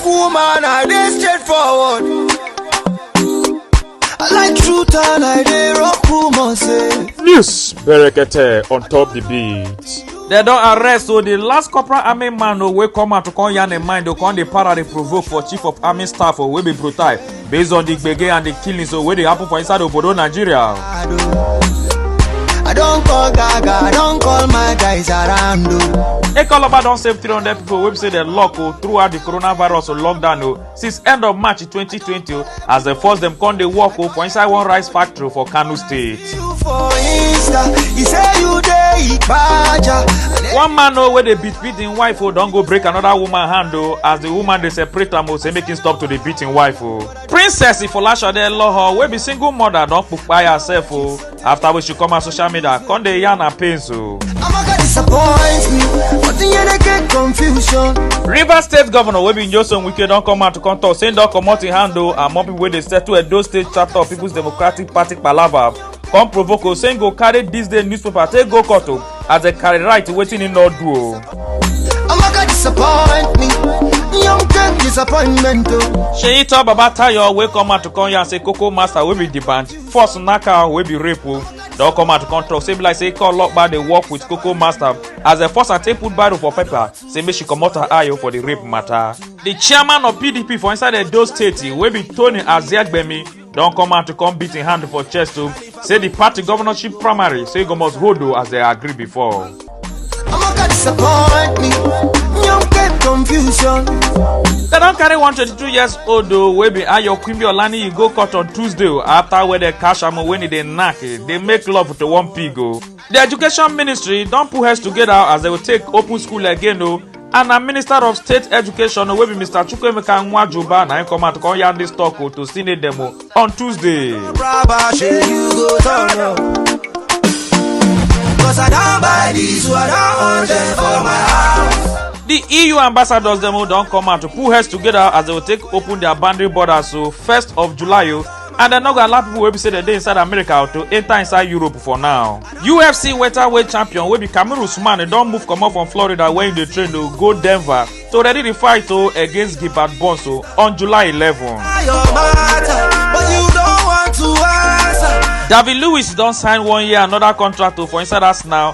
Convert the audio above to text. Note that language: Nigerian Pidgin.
Woman, I dey straightforward. I like truth and I dey rock woman say. News Berekete on top the beat. dem don arrest o di last corporal army man o wey come out to come yarn im mind o come dey para dey provoke for chief of army staff o wey be brutai based on di gbege and di killings wey dey happen for inside obodo nigeria. I don call Gaga, I don call my guys around o. Ekoloba don save 300 pipo wey be say dem lock o throughout di coronavirus lockdown o since end of March 2020 o as dem force dem come dey work o for inside one rice factory for Kano state. You for Insta, he say you dey Ipaja. one man o wey dey beat beat im wife o don go break another woman hand o as the woman dey separate am o say make im stop to dey beat im wife o. princess ifolashade loho wey be single mother don kpai herself o after wey she come her social media come dey yarn her pains o. Amaka disappoint me, but the end I get confusion. rivers state governor wey be nyesom wike don come out to come talk say im don comot im hand o among pipo wey dey settle edo state chapter of peoples democratic party palava come provoke o say im go carry dis day newspaper take go court o as dem carry right wetin im no do o. Amaka disappoint me. Young girl disappointment oh. seyi tell baba tayo wey come out to come yarn say koko master wey be the band force knack am wey be rape o don come out to come talk say e be like say ikọ ọlọpàá dey work with koko master as dem force am take put barrow for paper say make she comot her eye o for the rape matter. the chairman of pdp for inside edo state wey be tony aziagbemi don come out to come beat im hand for chest o say di party governorship primary say e go must hold o as dem agree before. Amaka disappoint me. Young get confusion. Dem don carry one 22 years old o wey be Ayo Quimby Olaniyi go court on Tuesday o after wey dem catch am o when e dey knack e dey make love to one pig o. di education ministry don put heads togeda as dem go take open school again o and na minister of state education wey be mr chukwuemeka nwajuba na im come out come yarn dis tok o to senate dem o on tuesday. Braba, shey you go turn up. Cause I don't buy this, what I want them for my house. di eu ambassadors dem o don come out to put heads togeda as dem go take open dia boundary borders o first of july o and dem no go allow pipo wey be say dem dey inside america to enta inside europe for now ufc welterweight champion wey be kamaru usman don move comot from florida where im dey train to go denver to ready di fight o against gilbert burns o on july 11 david lewis don sign one year anoda contract o for inside arsenal